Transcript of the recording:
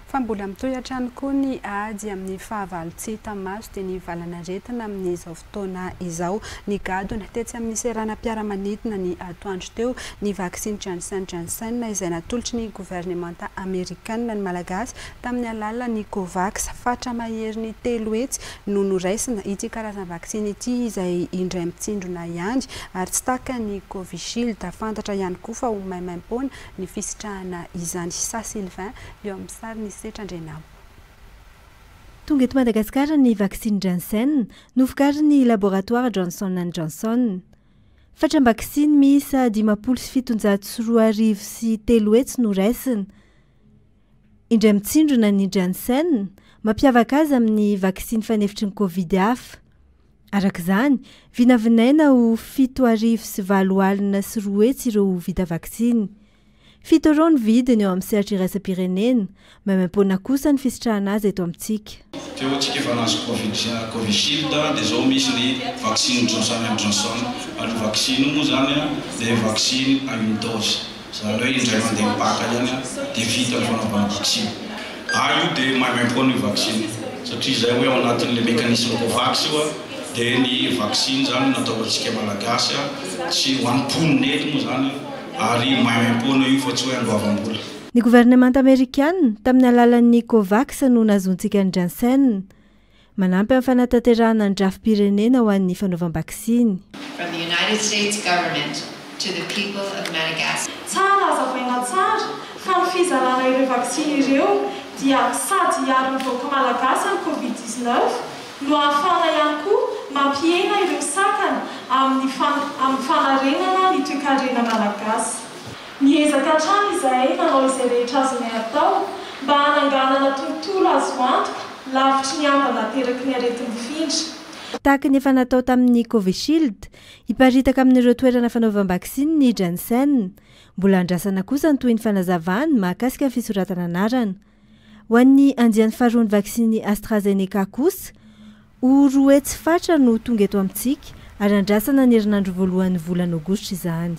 Fa mbola mitohy hatrany koa ny ady amin'ny fahavalo tsy hita maso dia ny valan'aretina amin'izao fotoana izao. Nigadona tetsy amin'ny seranam-piaramanidina ny atoandro teo ny vaksiny Janssen Janssen izay natolotry ny governemanta amerikanina ny Malagasy tamin'ny alalan'ny Covax. Fatra maherin'ny telo hetsy no noraisina ity karazam-vaksiny ity izay indray mitsindrona ihany ary tsy takan'ny Covishield. Fantatra ihany koa fa ho maimaim-poana ny fisitrahana izany Sa Sylvain eo amin'ny sary ny setra Andrianampo. Tonga eto Madagasikara ny vaksiny Janssen, novokarin'ny laboratoara Johnson and Johnson. Fatram-baksiny miisa dimampolo sy fitonjato sy roa arivo sy telo hetsy no raisina. Indray mitsindrona ny Janssen, mampiavaka azy amin'ny vaksiny fanefitry ny Covid hafa. Araka izany, vinavinaina ho fito arivo sy valo alina sy roa hetsy ireo ho vita vaksiny. Fito Euro ny vidiny eo amin'ny sehatra iraisam-pirenena, maimaimpoana kosa ny fisitrahana azy eto amintsika. Teo amintsika efa nahazo Covid Covishield dia izao misy ny vaksiny Johnson and Johnson. Aloha vaksiny io moa izany dia vaksiny à une dose. Zareo indray mandeha mipaka ihany dia vita ny fanaovana vaksiny. Ary io dia maimaimpoana io vaksiny satria izay hoe ao anatin'ilay mécanisme Covax io dia ny vaksiny izany no natao ho antsika Malagasy sy ho an'ny mponina eto moa izany ary maimaimpoana io fa tsy hoe andoavam-bola. Ny governemanta amerikana, tamin'ny alalan'ny Covax no nahazoantsika an'i Janssen. Manampy amin'ny fanatanterahana ny drafi-pirenena ho an'ny fanaovam-baksiny. From the United States Government to the people of Madagascar. Tsara hazavaina tsara fa ny fizarana ireo vaksiny ireo dia sady hiaro ny vahoaka malagasy amin'ny covid dix-neuf no ahafahana ihany koa mampihena ireo sakana amin'ny amin'ny fanarenana ny toekarena malagasy. Niezaka hatrany izahay nanao izay rehetra azonay atao mba hananganana tontolo azo antoka lavitry ny ambana ateraky ny areti-mifindra. Tahaka ny efa natao tamin'ny Covishield, hiparitaka amin'ireo toerana fanaovam-baksiny ny Janssen. Mbola andrasana kosa ny tohin'ny fanazavana mahakasika ny fisoratana anarana. Ho an'ny andiany faharoan'ny vaksin'i AstraZeneca kosa, ho roa hetsy fatra no tonga eto amintsika ary andrasana ny herinandro voalohan'ny volana Aogositra izany.